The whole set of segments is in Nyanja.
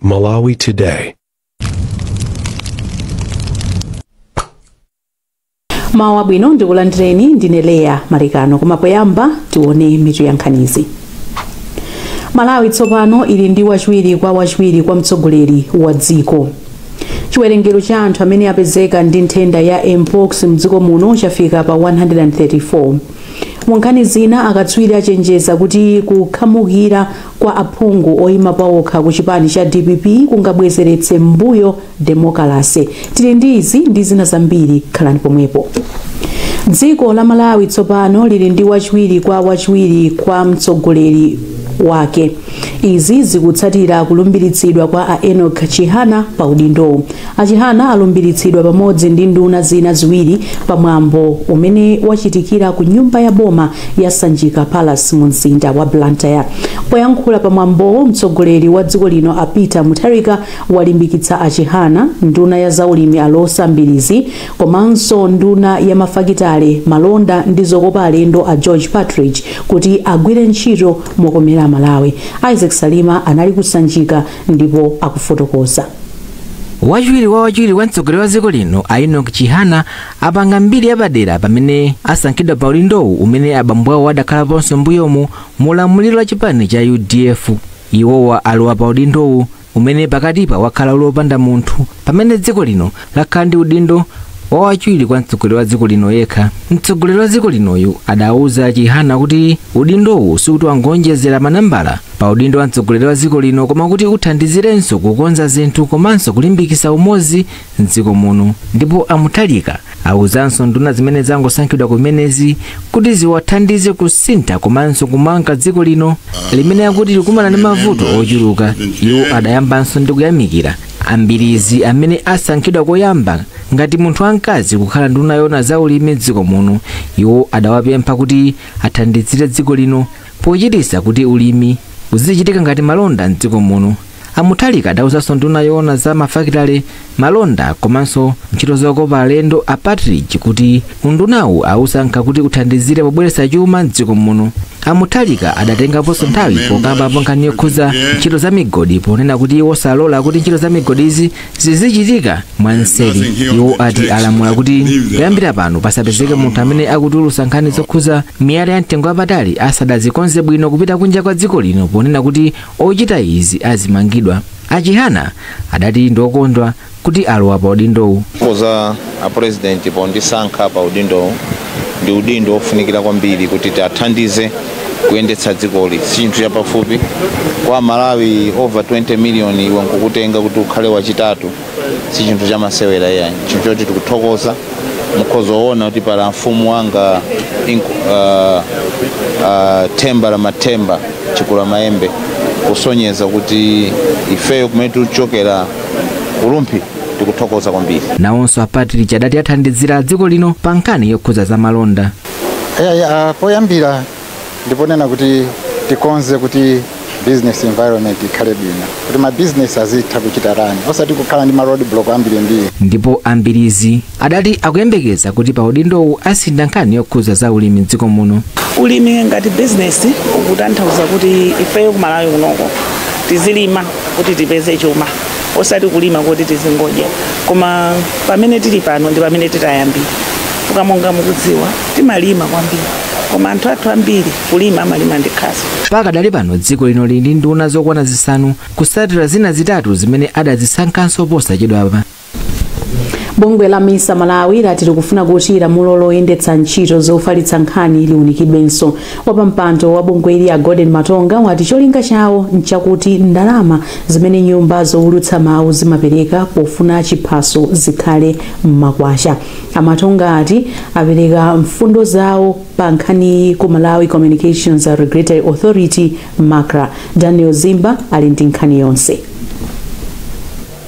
Malawi Today. mawu abwino ndikulandireni ndine leya malekano koma poyamba tione mitu ya nkhanizi malawi tsopano ili ndi wachiwiri kwa wachiwiri kwa mtsogoleri wa dziko chiwerengero cha anthu amene apezeka ndi nthenda ya mpox mdziko muno chafika pa 134 Mu nkhani zina, akatswiri achenjeza kuti kukhamukira kwa aphungu oima paokha ku chipani cha dpp kungabwezeretse m'mbuyo demokalase. Tili ndi izi ndi zina zambiri, khalani pomwepo. Dziko la Malawi tsopano lili ndi wachiwiri kwa wachiwiri kwa mtsogoleri wake. Izi zikutsatira kulumbiritsidwa kwa a Enock Chihana pa udindowu. A Chihana alumbiritsidwa pamodzi ndi nduna zina ziwiri pa mwambo umene wachitikira ku nyumba ya boma ya Sanjika Palace mu mzinda wa Blantyre. Poyankhula pa mwambowo, mtsogoleri wa dziko lino a Peter Mutharika walimbikitsa a Chihana, nduna ya zaulimi a Roza Mbilizi komanso nduna ya mafakitale, malonda ndi zokopa alendo a George Partridge kuti agwire ntchito mokomera Amalawi. Isaac Salima anali ku Sanjika. ndipo akufotokoza wachiwiri wa wachiwiri wa mtsogoleri wa dziko lino a enoch chihana apanga mbiri yapadera pamene asankhidwa pa udindowu umene abambo awo adakhalaponso mbuyomu mu ulamuliro wa chipani cha udf iwowa alowa pa udindowu umene pakatipa wakhala uli opanda munthu pamene dziko lino lakhala ndi udindo wa wachiwiri kwa mtsogoleri wa dziko lino yekha mtsogoleri wa dziko linoyu adauza a chihana kuti udindowu sikuti wangoonjezera manambala pa udindo wa mtsogoleri wa dziko lino koma kuti uthandizirenso kukonza zinthu komanso kulimbikitsa umodzi mdziko muno ndipo a mutharika auzanso nduna zimene zangosankhidwa kumenezi kuti ziwathandize kusintha komanso kumanga dziko lino limene akuti likumana ndi mavuto ochuluka iwo adayambanso ndi kuyamikira a mbilizi amene asankhidwa koyamba ngati munthu wamkazi kukhala nduna yoona za ulimi m'dziko muno iwo adawapempha kuti athandizire dziko lino pochititsa kuti ulimi uzichitika ngati malonda m'dziko muno a mutharika adawuzanso nduna yoona za mafakitale malonda komanso ntchito zokopa alendo a partridge kuti Undunawu awusankha kuti uthandizire pobweretsa chuma m'dziko muno. A Mutharika adatengaponso nthawi pokambapo nkhani yokhudza ntchito za migodi ponena kuti iwo salola kuti ntchito za migodi izi zizichitika mwanseri. Iwo ati alamula kuti kuyambira pano pasapezeke munthu amene akutulutsa nkhani zokhudza miyala ya mtengo wapatali asadazikonze bwino kupita kunja kwa dziko lino ponena kuti ochita izi azimangidwa. A Chihana adati ndi okondwa kuti alowa pa udindowu koza apurezidenti pondisankha pa udindowu ndi udindo wofunikira kwambiri kuti tiathandize kuyendetsa dzikoli si chinthu chapafupi kwa amalawi over 20 million iwe nkukutenga kuti ukhale wachitatu si chinthu chamasewera iyayi chinthu choti tikuthokoza mukhoza woona kuti paramount wanga inku- ah, ah, themba la mathemba chikulamayembe kusonyeza kuti ifeyo kumene tikuchokera ku Rumphi tikuthokoza kwambiri. nawonso a Partridge adati athandizira dziko lino pa nkhani yokhudza za malonda Eya, ya, poyambira ndiponena kuti tikonze kuti business environment ikhale bwino kuti ma business azitha kuchita run osati kukhala ndi ma road block ambirimbiri ndipo a Mbilizi adati akuyembekeza kuti pa udindowu asintha nkhani yokhudza za ulimi m'dziko muno ulimi ngati bizinesi ukutanthauza kuti ifeyo kumalawi kunoko tizilima kuti tipeze chuma osati kulima kuti tizingodya koma pamene tili pano ndi pamene titayambira fuka monga mukudziwa timalima kwambiri koma anthu athu ambiri kulima amalima ndi khasu pakadali pano dziko lino lili ndi nduna zokwana zisanu kutsatira zina zitatu zimene adazisankhanso posachedwapa bungwe la misa malawi lati likufuna kuti lamulo loyendetsa ntchito zofalitsa nkhani liunikidwenso wapampando wa bungwe ili a golden matonga wati cholinga chawo nchakuti ndalama zimene nyumba zowulutsa mawu zimapereka pofuna chiphaso zikhale m'makwacha a matonga ati apereka mfundo zawo pa nkhaniyi ku malawi communications regulatory authority macra daniel zimba ali ndi nkhani yonse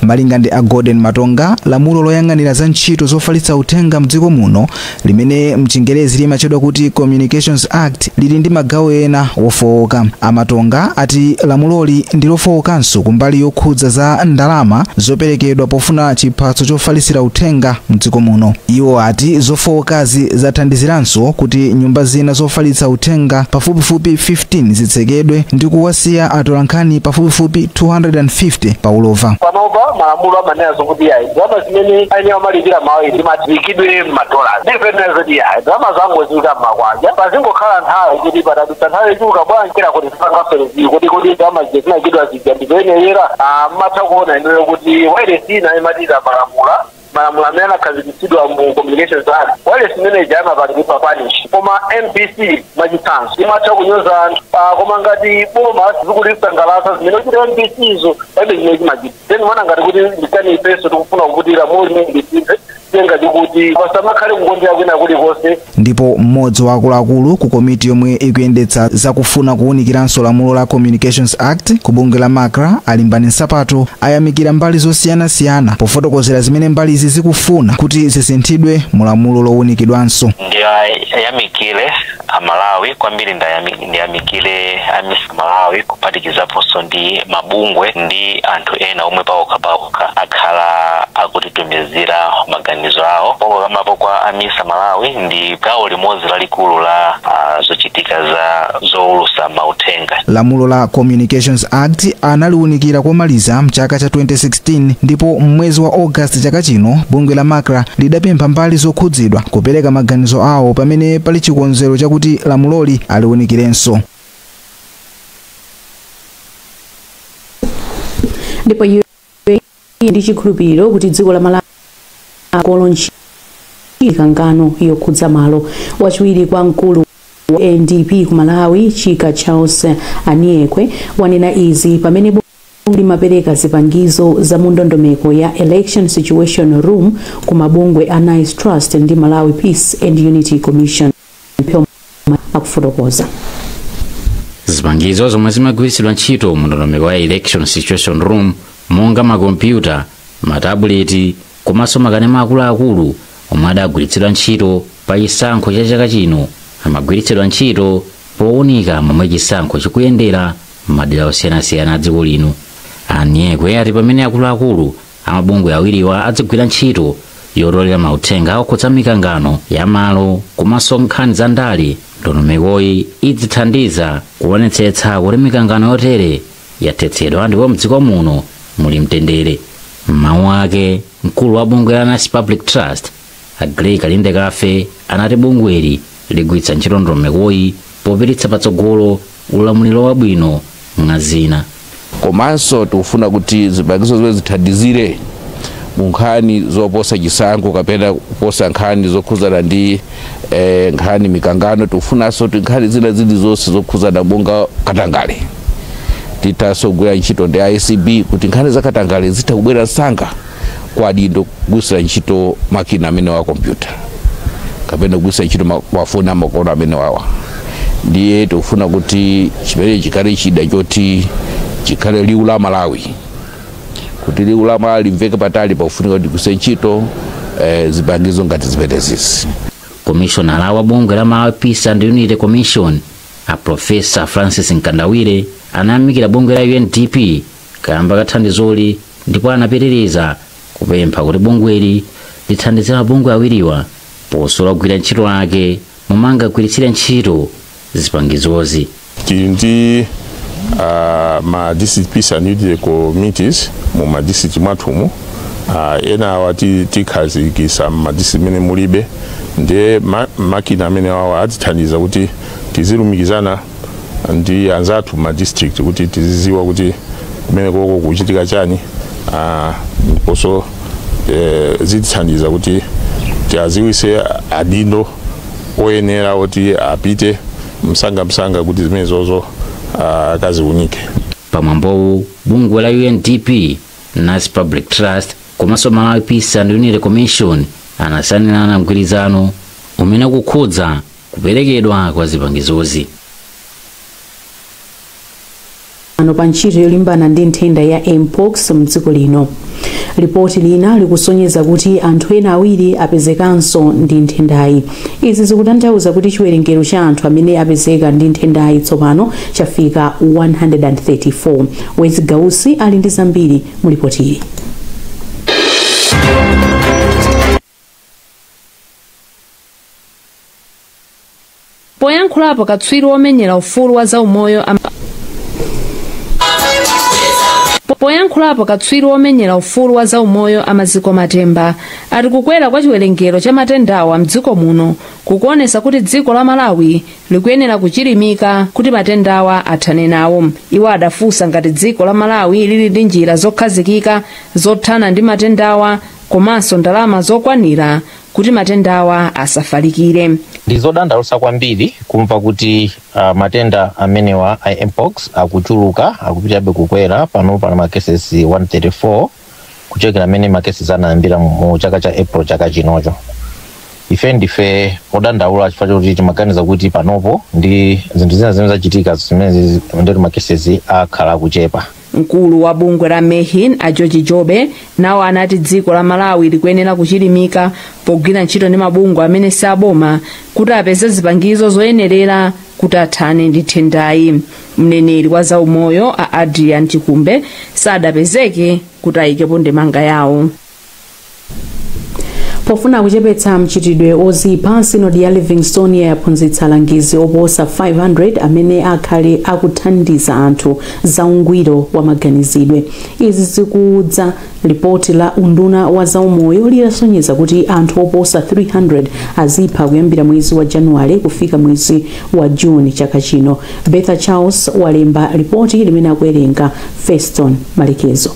Malinga ndi a Golden Matonga, lamulo loyang'anira za ntchito zofalitsa uthenga m'dziko muno limene mchingerezi limatchedwa kuti Communications Act lili ndi magawo ena ofooka. A Matonga ati lamuloli ndi lofookanso kumbali yokhudza za ndalama zoperekedwa pofuna chiphaso chofalitsira uthenga m'dziko muno. Iwo ati zofookazi zathandiziranso kuti nyumba zina zofalitsa uthenga pafupifupi 15 zitsekedwe ndi kuwasiya atolankhani pafupifupi 250 pa ulova. panopa malamulo amanena zokuti yayi ndalama zimene ayenera kumalipira mawailesi ziziikidwa m'madolars ndiponena zoti yayi ndalama zingoikidwa m'makwacha pazingokhala nthawi kuti patadutsa nthawi ichiuka bwanji njira kuti zipanga revisit kodi kodi ndalama zija zinatchulidwa zija ndizoyenera mmatha kuona inuyo kuti wailesi ina imatyola malamulo malamulo amene anakhazikitsidwa mu communications act wailesi imene ija imapangidwa punish koma mbc mwachitsanzo imatha kunyoza anthu Ah, koma ngati boma zikulisangalatsa zimene ikuchita mbc izo palibe chimene chimachita then mana ngati kuti ndikani ifenso tikufuna kuputira muli mbc tenga chikuti pasamakhale kukondera kwina kulikonse Ndipo m'modzi wa akuluakulu ku komiti yomwe ikuyendetsa za kufuna kuwunikiranso lamulo la Communications Act ku bungwe la Macra a Limbani Nsapato ayamikira mbali zosiyanasiyana pofotokozera zimene mbalizi zikufuna kuti zisinthidwe mu lamulo lowunikidwanso. Ndiyamikile a Malawi kwambiri ndayamik. ndiyamikire a misa malawi kuphatikizaponso ndi mabungwe ndi anthu ena omwe paokha paokha akhala akutitumizira maganizo awo pokokambapo kwa a misa malawi ndi gawo limodzi lalikulu la ah, zochitika za zoulutsa mauthenga lamulo la communications act analiunikira komaliza mchaka cha 2016 2016 ndipo m'mwezi wa August chaka chino, bungwe la Macra lidapempha mbali zokhudzidwa kupereka maganizo awo pamene pali chikonzero chakuti lamuloli aliunikirenso. ndipo iye ndi chikhulupiriro kuti dziko la malawi akolo ntchito mikangano yokhudza malo wachiwiri kwa mkulu wa undp ku malawi chika charles aniekwe wanena izi pamene limapereka zipangizo za mu ndondomeko ya Election Situation Room ku mabungwe a Nice Trust ndi Malawi Peace and Unity Commission. Mphoma akufotokoza. zipangizo zomwe zimagwiritsidwa ntchito mu ndondomeko ya election situation room monga makompyuta matabuleti komanso makanema akuluakulu omwe adagwiritsidwa ntchito pa chisankho cha chaka chino amagwiritsidwa ntchito powunika momwe chisankho chikuyendera m'madera osiyanasiyana a dziko lino aniekwe ati pamene akuluakulu amabungwe awiriwa adzigwira ntchito yotolera mauthenga okhudza mikangano ya malo komanso nkhani za ndale ndondomekoyi idzithandiza kuonetsetsa kuti mikangano yotere yathetsedwa ndipo mdziko muno muli mtendere m'mawu ake mkulu wa bungwe la nice public trust A Grey Kalindekafe anati bungweli ligwiritsa ntchito ndondomekoyi popititsa patsogolo ulamuliro wabwino mwa zina. Komanso tikufuna kuti zipangizo zimenezi zithandizire mu nkhani zoposa chisankho kapena kuposa nkhani zokhudzana ndi nkhani mikangano, tikufunanso kuti nkhani zina zilizonse zokhudzana monga katangale tithanso kugwira ntchito ndi a acb kuti nkhani za katangale zitha kubwera msanga. kwa adindo kugwiritsira ntchito makina amenewa a kompyuta kapena kugwiritsira ntchito ma- mafoni amakono amenewawa ndiye tikufuna kuti chimenechi chikhale chida choti chikhale liwu la malawi kuti liwu la malawi limveke patali pakufunika kuti kugwiritsira ntchito eh, zipangizo ngati zimenezizi komishonala wa bungwe la malawi peace and unity commission a profesa francis mkandawire anayamikira bungwe la undp kaamba ka thandizoli ndipo anapitiriza kupempha kuti bungweli lithandizire mabungwe awiriwa posula ogwira ntchito ake momwe angagwiritsire ntchito zipangizozi tili ndi ah, ma district peace and unity committees mu ma district mwathumu ah, enawa ti- tikhazikisa ma district mene mulibe ndiye ma- makina amene awa atithandiza kuti tizilumikizana ndi anzathu ma district kuti tiziziwa kuti kumene koko kuchitika chani ah, ndiponso eh, zitithandiza kuti tiaziwise adindo oyenera oti apite msanga msanga kuti zimene zozo ah, akaziunike pamwambowu bungwe la undp nice public trust komanso malawi peace and unity commission anasainirana mgwirizano umene ukukhudza kuperekedwa kwa zipangizozi. pa ntchito yolimbana ndi nthenda ya mpox mdziko lino lipoti lina likusonyeza kuti anthu ena awiri apezekanso ndi nthendayi izi zikutanthauza kuti chiwerengero cha anthu amene apezeka ndi nthendayi tsopano chafika 134 wezi gausi ali ndi zambiri mu lipotili Poyankhulapo katswiri womenyera ufulu wa za umoyo a Maziko Matemba ati kukwera kwa chiwerengero cha matendawa mdziko muno kukuonesa kuti dziko la Malawi likuyenera kuchilimika kuti matendawa athane nawo. Iwo adafunsa ngati dziko la Malawi lili ndi njira zokhazikika zothana ndi matendawa komanso ndalama zokwanira kuti matendawa asafalikire ndizodandalusa kwambiri kumva kuti uh, matenda amenewa a mpox akuchuluka akupitabe kukwera pano pali makeses 134 kuchokera mmene makeses anayambira mu mu chaka cha april chaka chinocho ife ndife odandaula chifukwa choti timaganiza kuti panopo ndi zinthu zina zimene zachitika zimene ndi kuti makeses akhala akuchepa Mkulu wa bungwe la Mhen a George Jobe nawo anati dziko la Malawi likuyenera kuchilimika pogwira ntchito ndi mabungwe amene si aboma kuti apeze zipangizo zoyenerera kuti athane ndi nthendayi. Mneneri wa zaumoyo a Adrian Chikumbe sadapezeke kuti ayikepo ndemanga yawo. pofuna kuchepetsa mchitidwe ozipha sinodi ya livingstonia yaphunzitsa alangizi oposa 500 amene akhale akuthandiza anthu za ungwiro wa maganizidwe izi zikudza lipoti la unduna wa zaumoyo litasonyeza kuti anthu oposa 300 azipha kuyambira mwezi wa januwale kufika mwezi wa juni chaka chino bertha charles walemba lipoti limene akuwerenga feston malekezo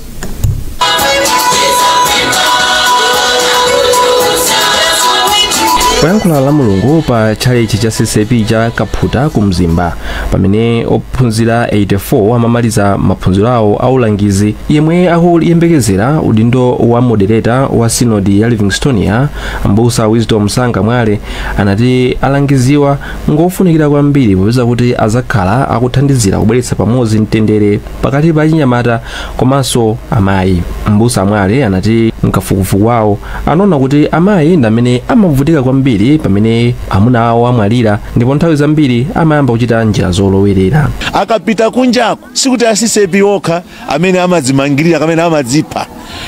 poyankhula la mulungu pa tchalitchi cha ccap cha kaphuta ku mzimba pamene ophunzira 84 amamaliza maphunziro awo aulangizi yemwe akuyembekezera udindo wa modereta wa sinodi ya livingstonia mbusa wisdom sanga mwale anati alangiziwa ngofunikira kwambiri popeza kuti azakhala akuthandizira kubweretsa pamodzi mtendere pakati pa achinyamata komanso amayi mbusa mwale anati mkafukufuku wawo anaona kuti amayi ndi amene amavutika kwambiri pamene amuna awo amwalira ndipo nthawi zambiri amayamba kuchita njira zolowerera akapita kunjako sikuti a ccap okha amene amadzimangirira kamene amadzipha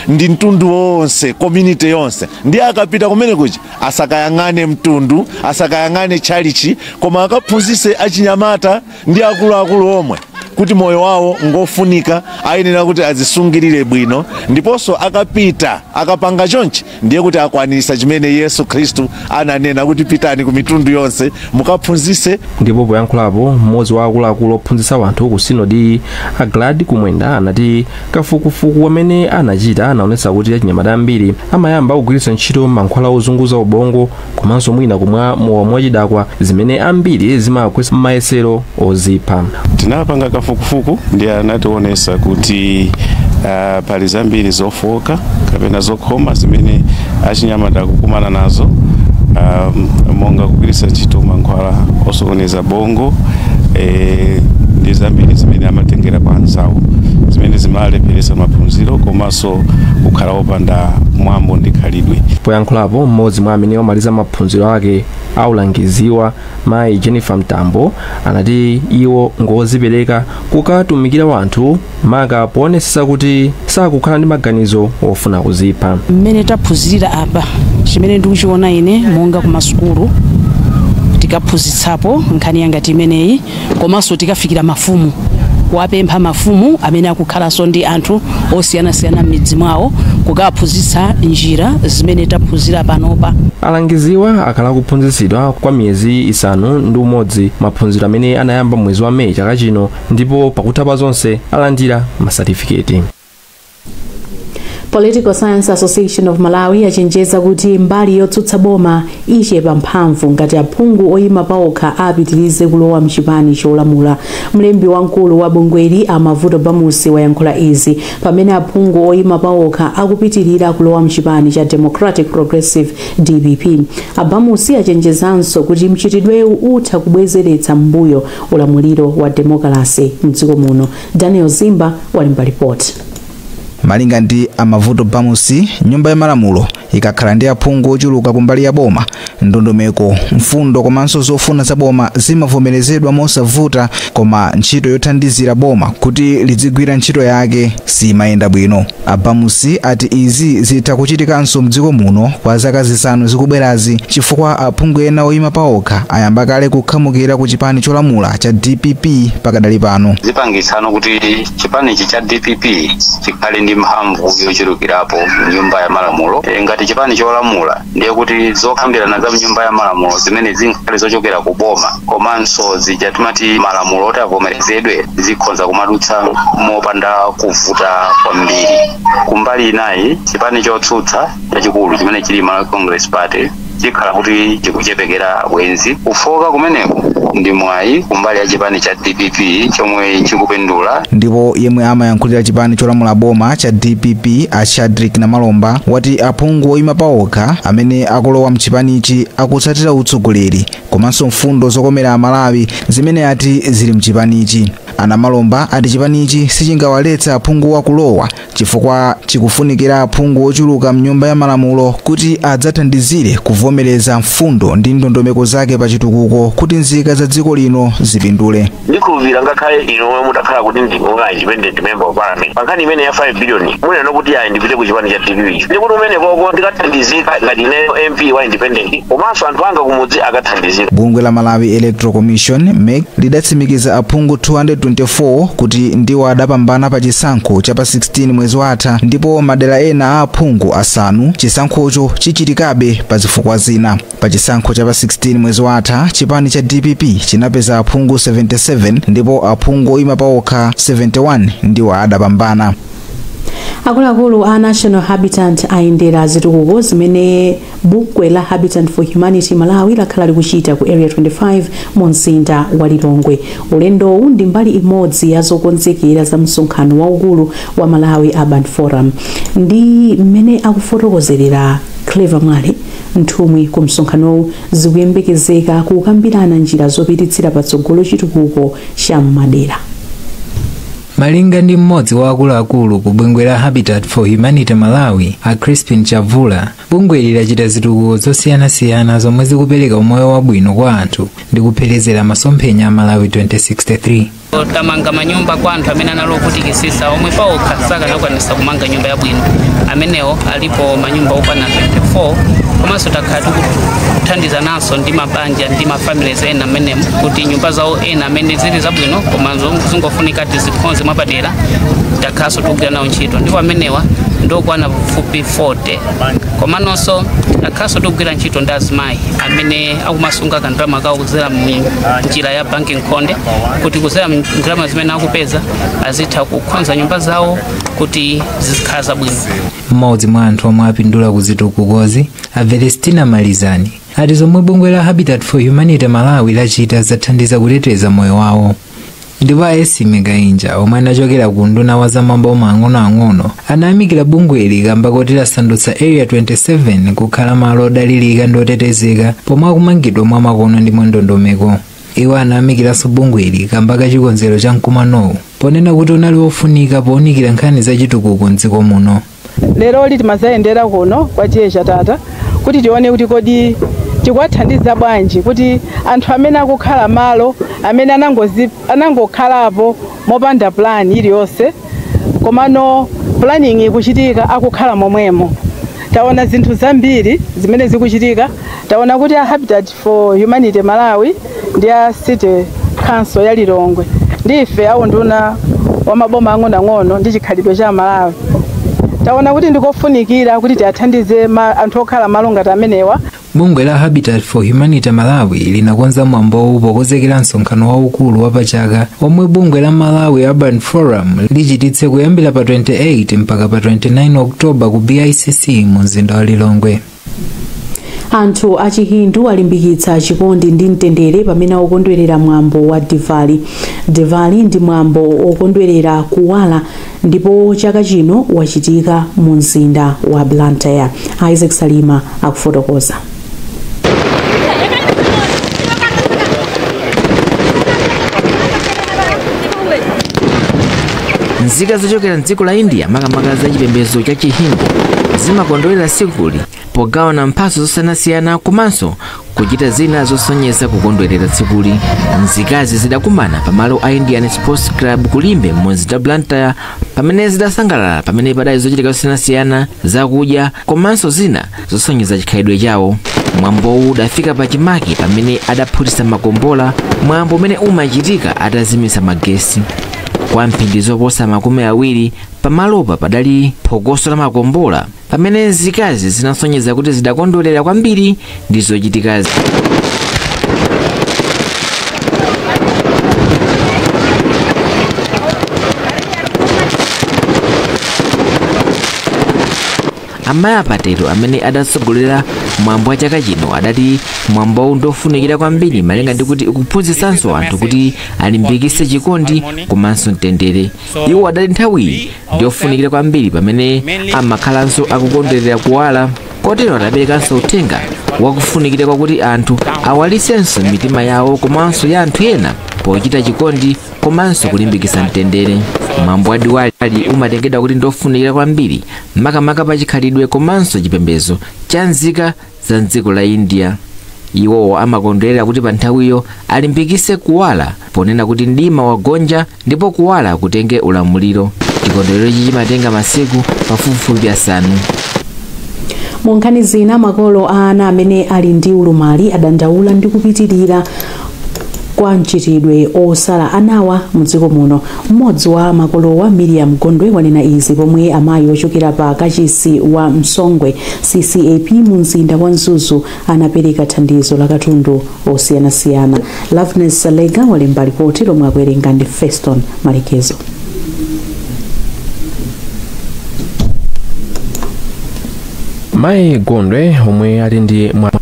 ndi mtundu wonse community yonse ndiye akapita kumene kuja asakayang'ane mtundu asakayang'ane tchalichi koma akaphunzise achinyamata ndi akuluakulu omwe kuti moyo wawo ngofunika ayenera kuti azisungirire bwino ndiponso akapita akapanga chonchi ndiye kuti akwanisa chimene yesu khristu ananena kuti pitani ku mitundu yonse mukaphunzise ndipo poyankhulapo mmodzi wa akuluakulu ophunzitsa wanthu ku sinodi a glad kumwenda anati kafukufuku amene anachita anaonetsa kuti achinyamata ambiri amayamba kugwiritsa ntchito mankhwala ozunguza ubongo komanso mwina kumwa mowa mwachidakwa zimene ambiri zimagwetsa mayesero ozipha tinapanga kafukufuku ndiye anatiwonesa kuti ah, pali zambiri zofooka kapena zokhoma zimene achinyamata akukumana nazo ah, monga kugwiritsa ntchito mankhwala osokoneza bongo eh, ndi zambiri zimene amatengera kwa anzawo zimene zimalepheretsa maphunziro komanso komanso kukhala opanda mwambo ndi khalidwe. Poyankhulapo m'modzi mwa amene omaliza maphunziro ake aulangiziwa mayi Jennifer Mtambo anati iwo ngozipereka kukatumikira wanthu maka poonetsetsa kuti sakukhala ndi maganizo ofuna kuzipha. mmene taphunzirira apa chimene ndikuchiona ine monga kumasukulu tikaphunzitsapo nkhani yangati imeneyi komanso tikafikira mafumu kuwapempha mafumu amene akukhalanso ndi anthu osiyanasiyana m'midzi mwawo kukaphunzitsa njira zimene taphunzira panopa alangiziwa akhala akuphunzitsidwa kwa miyezi isanu ndi umodzi maphunziro amene anayamba mwezi wa meyi chaka chino ndipo pakutha pa zonse alandira masatifiketi political science association of malawi yachenjeza kuti mbali yotsutsa boma ichepa mphamvu ngati aphungu oyima paokha apitirize kulowa mchipani cholamula mlembi wamkulu wa bungweli a mavuto bamusi wayankhula izi pamene aphungu oyima paokha akupitirira kulowa mchipani cha democratic progressive dpp a bamusi achenjezanso kuti mchitidwewu utha kubwezeretsa m'mbuyo ulamuliro wa demokalase mdziko muno daniel zimba walemba lipoti malinga ndi a Mavuto Bamusi nyumba ya malamulo ikakhala ndi aphungu ochuluka kumbali ya boma ndondomeko mfundo komanso zofuna za boma zimavomerezedwa mosavuta koma ntchito yothandizira boma kuti lidzigwira ntchito yake siyimayenda bwino A Bamusi ati izi zitha kuchitikanso mdziko muno kwa zaka zisanu zikubwerazi chifukwa aphungu ena oyima paokha ayamba kale kukhamukira ku chipani cholamula cha dpp pakadali pano. zipangitsanso kuti chipanichi cha dpp chikhale ndi mphamvu yochulukirapo mnyumba ya malamulo Eh, ngati chipani cholamula ndiye kuti zokambirana za mnyumba ya malamulo zimene zingakhale zochokera ku boma komanso zija timati malamulo oti avomerezedwe zikhonza kumadutsa mopanda kuvuta kwambiri kumbali inayi chipani chotsutsa chachikulu chimene chili malawi congress party chikhala kuti chikuchepekera Bwenzi kufooka kumeneko ndi mwayi kumbali ya chipani cha dpp chomwe chikupindula. Ndipo yemwe amayankhulira chipani cholamula boma cha dpp a Shadrick Namalomba wati aphungu oyima paokha amene akulowa mchipanichi akutsatira utsogoleri komanso mfundo zokomera Amalawi zimene ati zili mchipanichi. A Namalomba ati chipanichi sichingawaletse aphunguwa kulowa chifukwa chikufunikira aphungu ochuluka m'Nyumba ya Malamulo kuti adzathandizire kuvomereza mfundo ndi ndondomeko zake pa chitukuko kuti nzika za dziko lino zipindule. ndikhulupirira ngakhale inu omwe mutakhala kuti ndinu onga independent member of parliament pa nkhani imene ya 5 billion munena kuti ayi ndipite ku chipani cha dpp ndikuti umenekoko ndikathandizika ngati ineyo mp wa independent komanso anthu anga kumudzi akathandizika bungwe la malawi electoral commission mec lidatsimikiza aphungu 224 kuti ndiwo adapambana pa chisankho cha pa 16 mwezi watha ndipo madera ena a aphungu asanu chisankhocho chichitikabe pa zifukwa zina pa chisankho cha pa 16 mwezi watha chipani cha dpp chinapeza aphungu 77 ndipo aphungu oyima paokha 71 ndiwo adapambana akuluakulu a national habitat ayendera zitukuko zimene Bungwe la Habitat for Humanity Malawi lakhala likuchita ku Area 25 mu mzinda wa Lilongwe. Ulendowu ndi mbali imodzi ya zokonzekera za msonkhano waukulu wa Malawi Urban Forum. Ndi mmene akufotokozerera Clever Mwale nthumwi ku msonkhanowu zikuyembekezeka kukambirana njira zopititsira patsogolo chitukuko cha m'madera. Malinga ndi mmodzi wa akuluakulu ku bungwe la Habitat for Humanity Malawi, a Crispin Chavula, bungweli lachita zitukuko zosiyanasiyana zomwe zikupereka umoyo wabwino kwa anthu ndi kupherezera masomphenya a Malawi 2063. tamanga manyumba kwa anthu amene anali ovutikisisa omwe paokha sakanakwanisa kumanga nyumba yabwino amenewo alipo manyumba okwana 24 komanso takhala tikuthandizananso ndi mabanja ndi mafamilies ena amenemo kuti nyumba zawo ena amene zili zabwino koma zong- zingofunika tizikhonze mwapadera takhalanso tikugwira nawo ntchito ndipo amenewa ndi okwana pafupi 40 komanso takhalanso tikugwira ntchito ndi azimayi amene akumasunga kandalama kawo kudzera mu njira ya banki nkhonde kuti kudzera mu ndalama zimene akupeza azitha kukhonza nyumba zawo kuti zizikhala zabwino mmodzi mwa anthu omwe apindula ku zitukukozi a Velestina Malizani ati zomwe bungwe la habitat for humanity malawi lachita zathandiza kuteteza moyo wawo ndipo a Esmie Kainja omwe anachokera ku unduna wa zamaboma ang'onoang'ono anayamikira bungweli kamba koti lasandutsa area 27 kukhala malo odalirika ndi otetezeka pomwe akumangidwa mwa makono ndi mwandondomeko iwo anayamikiranso bungweli kamba ka chikonzero cha mkumanowu ponena kuti unali wofunika pounikira nkhani za chitukuko mdziko muno Leroli timadzayendera kuno kwa T/A Chatata kuti tione kuti kodi tikuwathandiza bwanji kuti anthu amene akukhala malo amene anangozi, anangokhalapo mopanda plan iliyonse komano planning ikuchitika akukhala momwemo. Taona zinthu zambiri zimene zikuchitika, taona kuti a Habitat for Humanity Malawi ndi a City Council ya Lilongwe ndi ife a unduna wa maboma ang'onoang'ono ndi chikhalidwe cha Malawi taona kuti ndikofunikira kuti tiathandize ma- anthu okhala malo ngati amenewa bungwe la habitat for humanity malawi linakonza mwambowu pokozekera msonkhano waukulu wapachaka omwe bungwe la malawi urban forum lichititse kuyambira pa 28 mpaka pa 29 oktoba ku bicc mu mzinda wa lilongwe Anthu a Chihindu alimbikitsa chikondi ndi mtendere pamene akukondwerera mwambo wa Diwali. Diwali ndi mwambo wokondwerera kuwala ndipo chaka chino wachitika mu mzinda wa Blantyre. Isaac Salima akufotokoza. nzika zochokera mdziko la india makamaka za chipembedzo cha chihindu zimakondwerera tsikuli pogawana mphatso zosiyanasiyana komanso kuchita zina zosonyeza kukondwerera tsikuli nzikazi zidakumana pamalo a indian sports club ku Limbe mu mzinda wa blantyre pamene zidasangalala pamene padali zochitika zosiyanasiyana zakudya komanso zina zosonyeza chikhalidwe chawo mwambowu udafika pa chimake pamene adaphutitsa makombola mwambo umene umachitika atazimitsa magesi kwa mphindi zoposa makumi awiri pamalopa padali phokoso la makombola pamene nzikazi zinasonyeza kuti zidakondwerera kwambiri ndi zochitikazi Amayi a Patelo amene adatsogolera mwambo wa chaka chino adati mwambowu ndi ofunikira kwambiri malinga ndi kuti ukuphunzitsanso anthu kuti alimbikitse chikondi komanso mtendere. Iwo adati nthawiyi ndi yofunikira kwambiri pamene amakhalanso akukondwerera kuwala kotero adaperekanso uthenga wakufunikira kwakuti anthu awalitsenso mitima yawo komanso ya anthu ena pochita chikondi komanso kulimbikitsa mtendere. Mwambo wa Diwali umatengedwa kuti ndi ofunikira kwambiri makamaka pa chikhalidwe komanso chipembedzo cha nzika za mdziko la india iwowo amakondwerera kuti pa nthawiyo alimbikitse kuwala ponena kuti mdima wagonja ndipo kuwala kutenge ulamuliro chikondwererochi chimatenga masiku pafupifupi asanu mu nkhani zina makolo a ana amene ali ndi ulumali adandaula ndi kupitirira kwa mchitidwe osala anawa mdziko muno mmodzi wa makolowa miriam gondwe wanena izi pomwe amayi ochokera pa kachisi wa msongwe ccap mu mzinda wa mzuzu anapereka thandizo la katundu osiyanasiyana loveness salega walemba lipoti lomwe akuwerenga ndi feston malekezo mayi gondwe omwe ali ndi mwana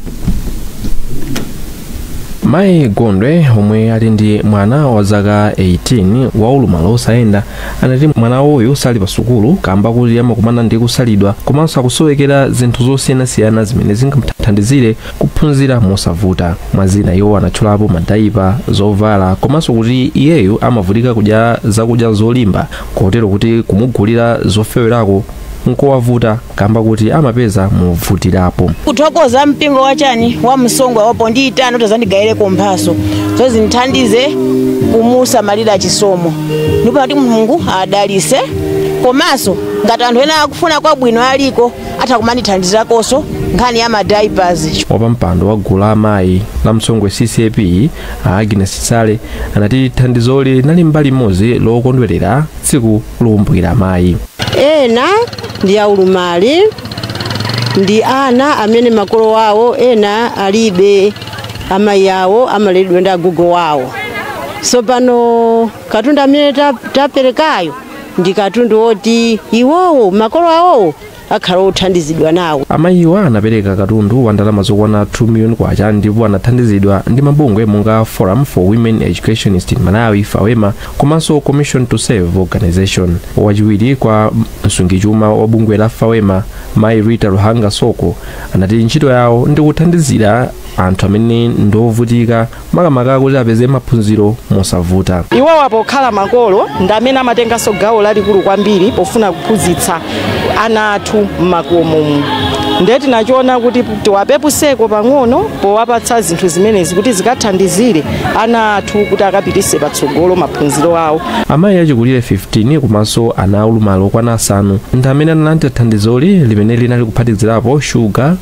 Mayi Gondwe omwe ali ndi mwana wa zaka 18 wa ulumali osayenda anati mwana uyu sali pa sukulu kamba kuti amakumana ndi kusalidwa komanso akusowekera zinthu zosiyanasiyana zimene zingamthandizire kuphunzira mosavuta mwa zina iwo anatchulapo madayipa zovala komanso kuti iyeyu amavutika kudya zakudya zolimba kotero kuti kumugulira zofewerako nkowavuta kamba kuti amapeza movutirapo kuthokoza mpingo wa chani wa msongwe wapondiitana atazandigayireko mphatso zoti zindithandize kumusamalira chisomo ndipo kuti mulungu adalise komanso ngati anthu ena akufuna kwabwino aliko atha kumandithandizakonso nkhani ya madiapers wapampando wa gulu la amayi la msongwe ccap a agnes sale anati thandizoli linali mbali imodzi lokondwerera tsiku lokumbukira amayi ena ndi aulumali ndi ana amene makolo awo ena alibe amayi awo amaleredwa ndi agogo awo so pano katundu amene ta- taperekayo ndi katundu woti iwowo makolo awowo akhala othandizidwa nawo. Amayiwa anapereka katundu wa ndalama zokwana 2 million kwacha ndipo anathandizidwa ndi mabungwe monga Forum for Women Educationists in Malawi, FAWEMA, komanso Commission to Serve Organization. Wachiwiri kwa msungichuma wa bungwe la FAWEMA, Mayi Rita Luhanga Soko, anati ntchito yawo ndi kuthandizira anthu amene ndi ovutika makamaka kuti apeze maphunziro mosavuta. Iwowa pokhala makolo ndi amene amatenganso gawo lalikulu kwambiri pofuna kuphunzitsa ana athu m'makomomu. Ndiye tinachiona kuti tiwapepuseko pang'ono powapatsa zinthu zimenezi kuti zikathandizire ana athu kuti akapititse patsogolo maphunziro awo. Amayi achikulire 15 komanso ana aulumali okwana asanu ndi amene analandira thandizoli limene linali kuphatikizirapo shuga,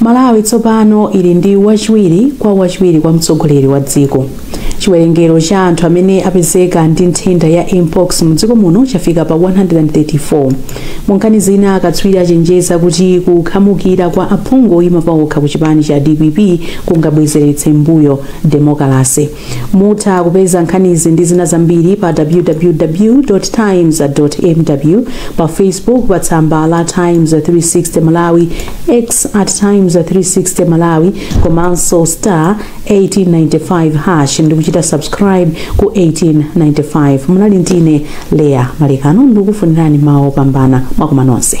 Malawi tsopano ili ndi wachiwiri kwa wachiwiri kwa mtsogoleri wa dziko. Chiwerengero cha anthu amene apezeka ndi nthenda ya mpox mu dziko muno chafika pa 134. Mu nkhani zina, akatswiri achenjeza kuti kukhamukira kwa aphungu oyima paokha ku chipani cha dpp kungabwezeretse m'mbuyo demokalase. Mutha kupeza nkhanizi ndi zina zambiri pa www times mw pa facebook pa tsamba la times 360 malawi x at times 360 malawi komanso star 1895 hash ndi kuchita subscribe ku 1895 munali ndine Leah Malekano ndikufunirani mawu opambana mwakoma nonse